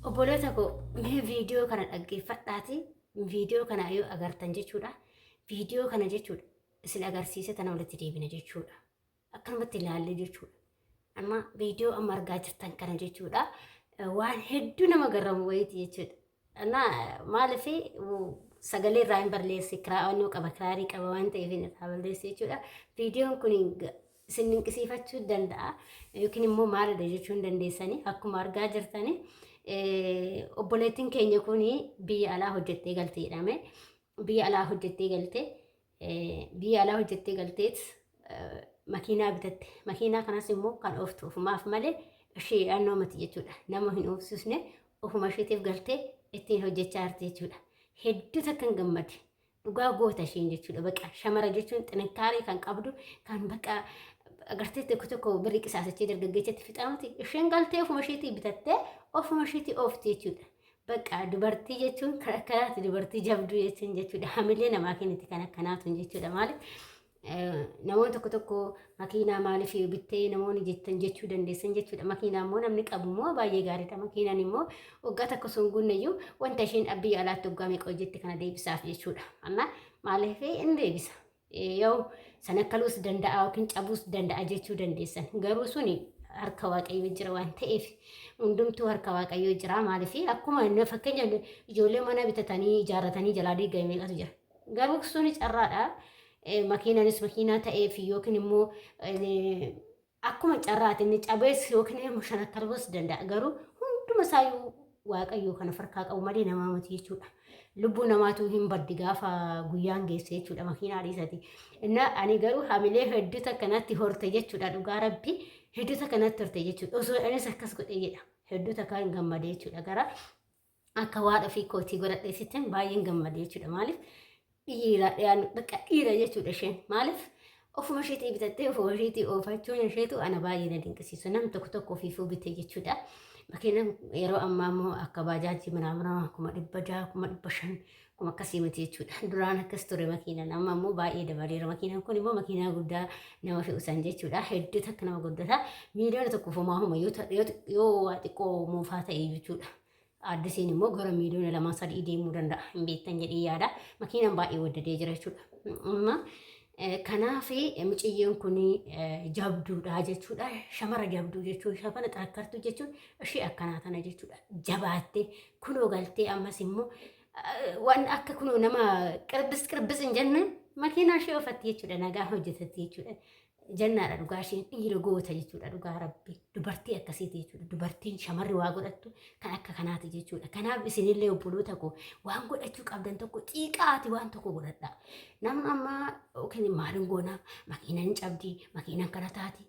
Obboleessa koo mee viidiyoo kana dhaggeeffadhaati. Viidiyoo kana yoo agartan jechuudha. Viidiyoo kana jechuudha isin agarsiise tana walitti deebina jechuudha. Akkanumatti ilaallee jechuudha. Amma viidiyoo amma argaa jirtan kana jechuudha. Waan hedduu nama garramu wayiiti jechuudha. Anna maaliif sagalee irraa hin balleessi kiraa'annoo qaba kiraarii qaba waan ta'eef irraa balleessi jechuudha. Viidiyoon kun isin dinqisiifachuu danda'a yookiin immoo maalidha jechuu hin dandeessanii akkuma argaa jirtanii obboleettiin keenya kun biyya alaa hojjettee galte jedhame biyya alaa hojjettee galte biyya alaa hojjettee galteet makiinaa bitatte makiinaa kanas immoo kan ooftu ofumaaf malee ishee yaannoo mati jechuudha nama hin oofsisne ofuma isheetiif galtee ittiin hojjechaa jirti jechuudha hedduu takkan gammade dhugaa goota isheen jechuudha baqa shamara jechuun xinakkaaree kan qabdu kan baqa agartee tokko tokko birri qisaasachee dargaggeessatti fixaamuti isheen galtee ofuma isheetii bitattee ofuma isheetii oofti jechuudha. Baqa dubartii jechuun kan akkanaati dubartii jabduu jechuun jechuudha hamilee namaa kenniti kan akkanaatu jechuudha maaliif Namoonni tokko tokko makiinaa maaliif bittee namoonni jettan jechuu dandeessan jechuudha. Makiinaa immoo namni qabu immoo baay'ee gaariidha. Makiinaan immoo waggaa tokko sun guunnayyuu wanta isheen biyya alaatti waggaa meeqa hojjette kana deebisaaf jechuudha. Amma maaliif in deebisa? Yoo san akkaluus danda'a yookiin cabuus danda'a jechuu dandeessan. Garuu suni harka waaqayyoo jira waan ta'eef hundumtuu harka waaqayyoo jira maaliif akkuma fakkeenyaaf ijoollee mana bitatanii ijaarratanii jalaa diigame meeqatu jira. Garuu sun carraadha. Makiinanis makiinaa ta'eef yookiin immoo akkuma carraati inni cabees yookiin immoo shanakkarboos danda'a. Garuu hunduma isaayyuu waaqayyoo kana farkaa qabu malee namaa miti jechuudha. Lubbuu namaatu hin baddi gaafa guyyaan geesse jechuudha makiinaa dhiisati. Inna ani garuu hamilee hedduu takka natti horte jechuudha dhugaa rabbi hedduu takka natti horte jechuudha. Osoo anis akkas godhe jedha hedduu takka hin gammade jechuudha gara akka waan ofii kootii godhadhe sittin baay'een gammade jechuudha maaliif dhiira dhiyaan bakka dhiira jechuudha isheen maaliif ofuma isheetii bitattee ofuma isheetii oofachuun isheetu ana baay'ee na dinqisiisu nam tokko tokko ofiifuu bite jechuudha. Bakkeelam yeroo ammaa immoo akka baajaajii minaaminaa kuma dhibba jaha kuma dhibba shan kuma akkasii miti jechuudha. Duraan akkas ture makiinaan amma immoo baay'ee dabaleera makiinaan kun immoo makiinaa guddaa nama fe'usan jechuudha. Hedduu takka nama guddata miiliyoona tokkoof homaa homa yoo xiqqoo moofaa ta'e jechuudha. Addisiin immoo gara miiliyoona lamaa sadii deemuu danda'a hin beektan jedhee yaada. Makiinaan baay'ee waddadee jira jechuudha. Amma kanaaf miciyyoon kun jabduudha jechuudha. Shamara jabduu jechuun shamara xarakkartuu jechuun ishee akkanaa tana jechuudha. Jabaattee kunoo galtee ammas immoo waan akka kunoo nama qirbis qirbis hin jenne makiinaa ishee oofatti jechuudha. Nagaan hojjetatti jechuudha. Jannaadha dhugaa isheen dhiira goota jechuudha dhugaa rabbi dubartii akkasiiti jechuudha dubartiin shamarri waa godhattu kan akka kanaati jechuudha kanaaf isinillee obboloota koo waan godhachuu qabdan tokko xiiqaati waan tokko godhadha nama ammaa yookiin maalin goona makiinan cabdi makiinan kana taati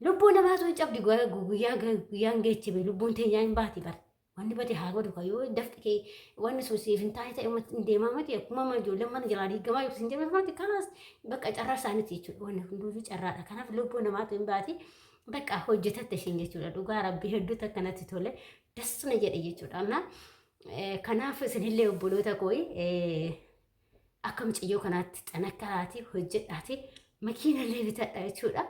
lubbuu namaa sun cabdi guyyaa guyyaan geechibe lubbuun teenyaa hin baati bara Wanni bade haa badu ka yoo dafqi kee wanni sun siif hin taane ta'e ummatti hin deemaa miti akkuma amma ijoolleen mana jalaa diigamaa jirtu hin jedhamu miti kanas bakka carraa isaaniiti jechuudha wanni hunduu carraadha kanaaf lubbuu namaatu hin baati bakka hojjetatte ishiin jechuudha dhugaa rabbii hedduutu akkanatti tole das na jedhe jechuudha amma kanaaf isinillee obboloota kooyi akka mucayyoo kanaatti xanakkaraati hojjedhaati makiinallee bitadha jechuudha.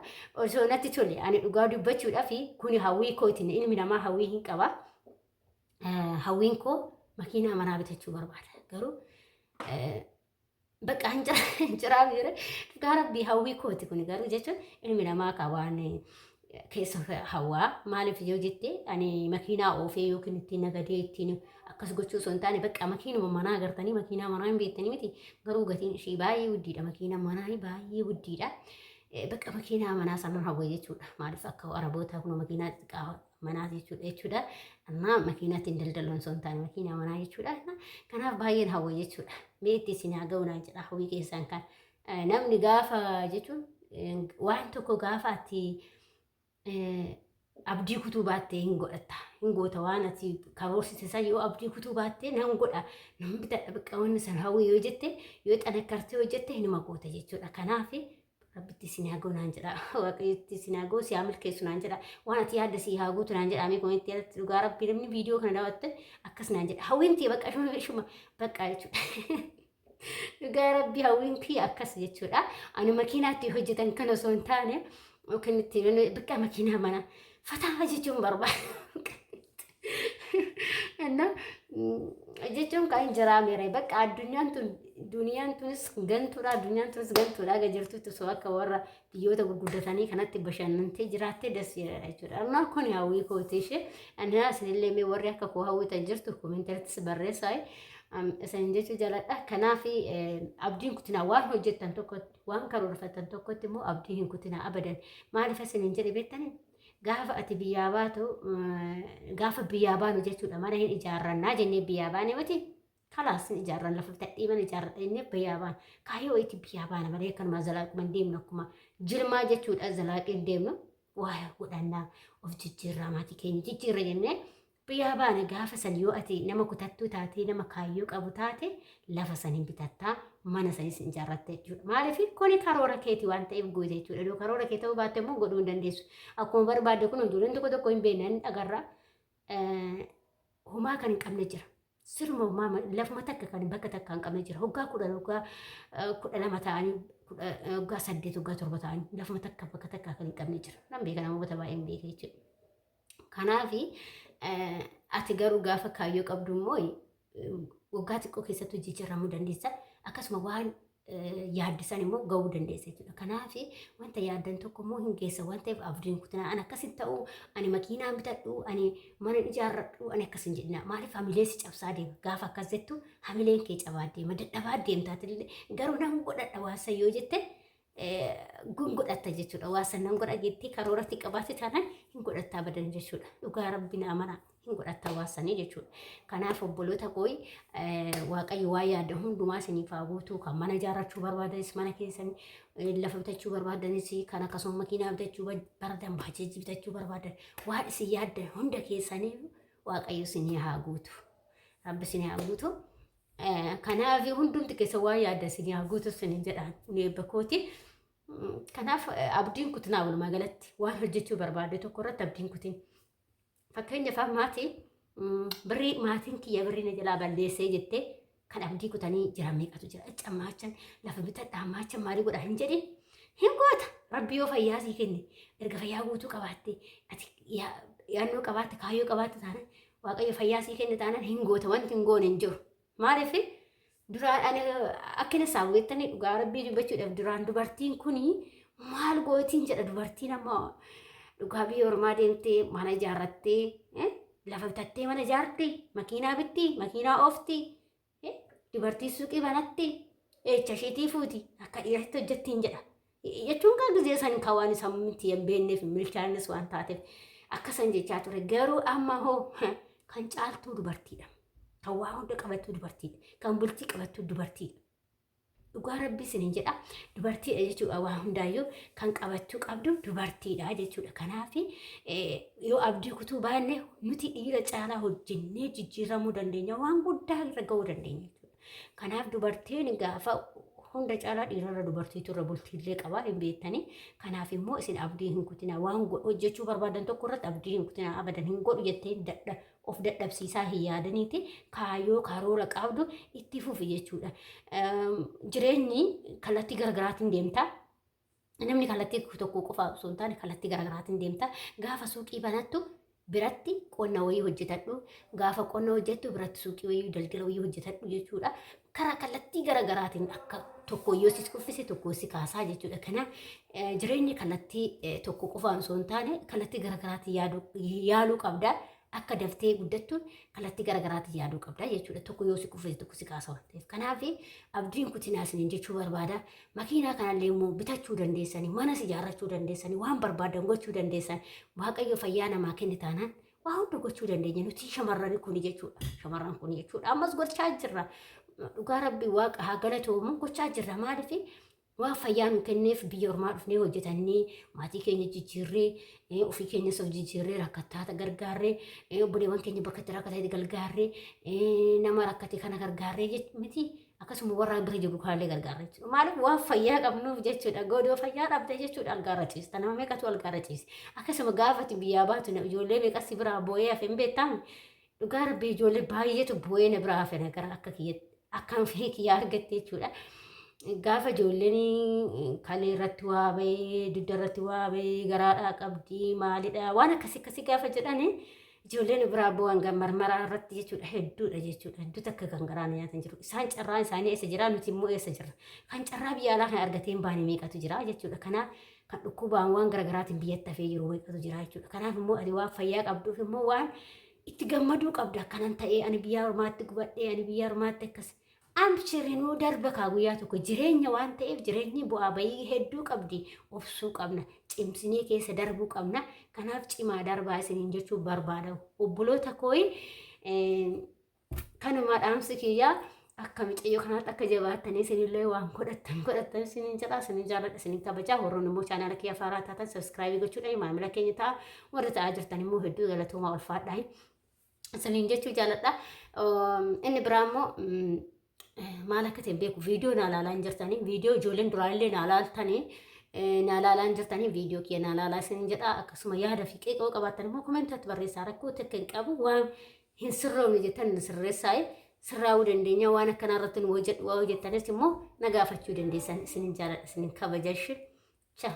Osoo natti tole ani dhugaa dubbachuudhaaf kuni hawwii kooti ilmi namaa hawwii hin qaba. Hawwiin koo makiinaa manaa bitachuu barbaada. Garuu bakka hin jiraa jira. Dhugaa rabbii hawwii kooti kuni garuu jechuun ilmi namaa ka waan keessa hawaa maaliif yoo jette ani makiinaa oofee yookiin ittiin nagadee ittiin akkas gochuu osoo hin taane bakka makiinuma manaa agartanii makiinaa manaa hin beektanii miti garuu gatiin ishii baay'ee guddiidha makiina manaa baay'ee guddiidha Eh, bakka makiinaa manaa sanan hawwa jechuudha maaliif akka araboota kun makiinaa xixiqqaa manaa jechuudha jechuudha amma makiinaatiin daldaluun osoo hin taane makiinaa manaa jechuudha Amma kanaaf baay'een hawwa jechuudha mee itti isin haa ga'u naan jedha hawwii keessaan kan Eh, Namni gaafa jechuun eh, waan tokko gaafa ati eh, abdii kutuu baattee hin godhatta. Hin goota waan ati karoorsite san yoo abdii kutuu baattee nan godha nan bitadha bakka wanni san hawwii yoo jette yoo xanakkartee yoo jette hinuma goota jechuudha. Kanaaf rabbitti isin haa ga'u naan jedha. Waaqayyotti isin haa ga'u si haa milkeessu naan jedha. Waan ati yaadde si haa guutu naan jedha. Amee komeetti irratti dhugaa rabbii namni viidiyoo kana daawwatte akkas naan jedha. Hawwiin tiyya bakka ishuma ishuma bakka jechuudha. Dhugaa rabbii hawwiin tiyya akkas jechuudha. Ani makiinaatti hojjetan kan osoo hin taane yookiin itti bakka makiinaa mana fataa jechuun barbaada. Innaa jechuun kan hin jiraamere bakka addunyaan tun duniyaan tunis gantuudha addunyaan tunis gantuudha aga jirtutti osoo akka warra biyyoota gurguddatanii kanatti bashannantee jiraattee das jedhadha jechuudha. Amma kun hawwii kooti ishee. Ani isinillee mee warri akka koo hawwitan jirtu komentartis barreessaa isin jechuu jaaladha. Kanaaf abdiin kutinaa waan hojjettan tokkotti waan karoorfattan tokkotti immoo abdii hin kutinaa abadan. Maaliif isin hin jedhe beektanii? Gaafa ati biyyaa baatu gaafa biyyaa baanu jechuudha mana hin ijaarrannaa jennee biyyaa baane miti. kalaas ni ijaarran lafa bitaa dhiiman ijaarradha inni biyyaa baana kaayyoo itti biyyaa baana malee akkanuma zalaaquma hin deemnu akkuma jirmaa jechuudha zalaaqii hin deemnu waa'ee godhannaa of jijjiirraa maatii keenya jijjiirra jennee biyyaa baana gaafa san yoo ati nama kutattuu taatee nama kaayyoo qabu taate lafa san hin bitattaa mana sanis hin ijaarratta jechuudha maaliif kuni karoora keeti waan ta'eef goote jechuudha yoo karoora kee ta'uu baatte immoo godhuu hin dandeessu akkuma barbaadde kun ijoolleen tokko tokko hin beekne hin dhagarra homaa kan hin qabne jira. Siruma homaa lafuma takka kan bakka takka hin qabne jira. Hoggaa kudhan hoggaa kudha lama ta'anii hoggaa saddeet hoggaa torba ta'anii lafuma takka bakka takka kan hin qabne jira. Nan beeka namoota baay'ee hin beeka jechuudha. Kanaaf ati garuu gaafa kaayyoo qabdu immoo waggaa xiqqoo keessattuu jijjiiramuu dandeessa. Akkasuma waan yaaddisan immoo ga'uu dandeessa jechuudha. Kanaaf wanta yaaddan tokko immoo hin geessa waan ta'eef abdiin kutinaa ani akkas hin ta'u ani makiinaan bitadhu ani mana ijaarradhu ani akkas hin jedhina maaliif hamilee si cabsaa deema gaafa akkas jettu hamileen kee cabaa deema dadhabaa deemtaatillee garuu nan godhadha waan san yoo jette gun godhatta jechuudha. Waa san nan godha jettee karooratti qabaate taanaan hin godhattaa badan jechuudha. Dhugaa rabbi naa mana hin godhattaa waa sanii jechuudha. Kanaaf obboloota kooyi waaqayyo waa yaada hundumaa isiniif haa guutuu kan mana ijaarrachuu barbaadanis mana keessan lafa bitachuu barbaadanis kan akkasuma makiinaa bitachuu barbaadan baajeejii bitachuu barbaadan waan isin yaaddan hunda keessanii waaqayyo isinii haa guutu. Rabbi isinii haa guutu. Kanaaf hundumti keessa waa yaadda isin yaa guutu isiniin jedhaan kun eebba kooti. Kanaaf abdiin kutinaa walumaa galatti waan hojjechuu barbaadde tokko irratti abdiin kutin. Fakkeenyaaf maatii birrii maatiin kiyya birrii na jalaa balleessee jettee kan abdii kutanii jiran meeqatu jira. Cammaachan lafa bitadhaa maachan maalii godhaa hin jedhin. Hin goota rabbi yoo fayyaa sii kenne erga fayyaa guutuu qabaatte ati yaannoo qabaatte kaayyoo qabaatte taanaan Waaqayyo fayyaa sii kenne taanaan hin goota wanti hin goone hin jiru. Maaliif duraan ani akka inni isaa beektanii dhugaa rabbii dubbachuudhaaf duraan dubartiin kuni maal gootiin jedha dubartiin amma dhugaa biyya ormaa deemtee mana ijaarrattee eh, lafa bitattee mana ijaarti makiinaa bitti makiinaa oofti Eh, Dubartii suuqii banatte eecha isheetii fuuti akka dhiiratti hojjettiin jedha. Eh, Jechuun kaa gizee san kaa waan isaan miti hin beekneef hin milkaa'innes waan taateef akka san jechaa ture. Garuu amma hoo kan caaltuu dubartiidha. Kan waa hunda qabattuu dubartiidha. Kan bultii qabattuu dubartiidha. Dhugaa rabbii isinin jedha dubartiidha jechuudha waa hundaayyuu kan qabachuu qabdu dubartiidha jechuudha kanaaf yoo abdii kutuu baanne nuti dhiira caalaa hojjennee jijjiiramuu dandeenya waan guddaa irra ga'uu dandeenya jechuudha kanaaf dubartiin gaafa hunda caalaa dhiirarra dubartiitu irra bultiillee qabaa hin beektanii kanaaf immoo isin abdii hin kutina waan hojjechuu barbaadan tokko irratti abdii hin kutina abadan hin godhu jettee dadha of dadhabsiisaa hin yaadaniiti kaayoo karoora qabdu itti fufi jechuudha. Jireenyi kallattii garaagaraatiin deemta. Namni kallattii tokko qofa osoo hin taane kallattii garaagaraatiin deemta. Gaafa suuqii banattu biratti qonna wayii hojjetadhu. Gaafa qonna hojjettu biratti suuqii wayii daldala wayii hojjetadhu jechuudha. karaa kallattii gara garaatiin akka tokko yoo si kuffise tokko si kaasaa jechuudha. Kanaaf eh, jireenyi kallattii eh, tokko qofaan osoo hin taane kallattii gara garaatiin yaaduu- yaaluu qabda. Akka daftee guddattuun kallattii gara garaatiin yaaduu qabda jechuudha. Tokko yoo si kuffise tokko si kaasa waan ta'eef. Kanaaf abdiin kutinaa isiniin jechuu barbaada. Makiinaa kanallee immoo bitachuu dandeessanii, manas ijaarrachuu dandeessanii, waan barbaadan gochuu dandeessan. Waaqayyo fayyaa namaa kenne taanaan Waa hunda gochuu dandeenya nuti shamarran kuni jechuudha. Shamarran kuni jechuudha. Ammas gochaa jirra. Dhugaa rabbi waaqa haa galatoomu gochaa jirra maaliif waan fayyaa nu kenneef biyya ormaa dhufnee hojjetannee maatii keenya jijjiirree eh, ofii keenya soo jijjiirree rakkattaata gargaarree eh, obboleewwan keenya bakka itti rakkatee gargaarree eh, nama rakkate kana gargaarree jech- miti akkasuma warra bira jiru kanallee gargaarra jechuudha. Maaliif waan fayyaa qabnuuf jechuudha. Godoo fayyaa dhabde jechuudha algaarra ciista. Nama meeqatu algaarra ciise. Akkasuma gaafati biyyaa baatu ijoollee meeqassi biraa boo'ee hafe hin beektaami. Dhugaa rabbii ijoollee baay'eetu boo'ee na biraa hafe nagara akka kiyyatti. Akkaan fee kiyyaa argatte jechuudha. Gaafa ijoolleen kalee irratti waa bahee, dugda irratti waa bahee, garaadhaa qabdi, maalidha waan akkasii akkasii gaafa jedhani Ijoolleen biraa abboo hanga marmaraa irratti jechuudha hedduudha jechuudha hedduu takka kan garaa na nyaatan jiru isaan carraan isaanii eessa jira nuti immoo eessa jirra kan carraa biyya alaa kan argateen baane meeqatu jira jechuudha kanaaf kan dhukkubaan waan garaagaraatiin biyyatti hafee jiru meeqatu jira jechuudha kanaaf immoo ati waan fayyaa qabduuf immoo waan itti gammaduu qabda akkanan ta'ee ani biyyaa ormaatti gubadhee ani biyyaa ormaatti akkas Amshiri nuu darba kaa guyyaa tokko jireenya waan ta'eef jireenyi bu'aa bayii hedduu qabdi obsuu qabna cimsinee keessa darbuu qabna kanaaf cimaa darbaa isiniin jechuu barbaada obboloota kooyi kanumaa dhaamsi kiyyaa akka micayyoo kanaatti akka jabaattanii isinillee waan godhattan godhattan isiniin jedha isiniin jaalladha isiniin kabajaa warroon immoo chaanaala kiyya faaraa taatan sabiskiraabii gochuudhaan maamila keenya ta'a warri ta'aa jirtan immoo hedduu galatoomaa ulfaadhaa isiniin jechuu jaaladha. Inni biraa immoo maal akka ta'e beeku viidiyoo naa laalaa hin jirtanii viidiyoo ijoolleen duraallee naa laaltanii naa laalaa hin jirtanii viidiyoo kiyya naa laalaa isiniin jedha akkasuma yaada fi qeeqoo qabaattan immoo komentatti barreessaa rakkoo takka hin qabu waan hin sirroomne jettan sirreessaa sirraa'uu dandeenya waan akkanaa irratti nu hojjedhu waa hojjettanis immoo na gaafachuu dandeessan isiniin jaaladha isiniin kabajashi. Ciao.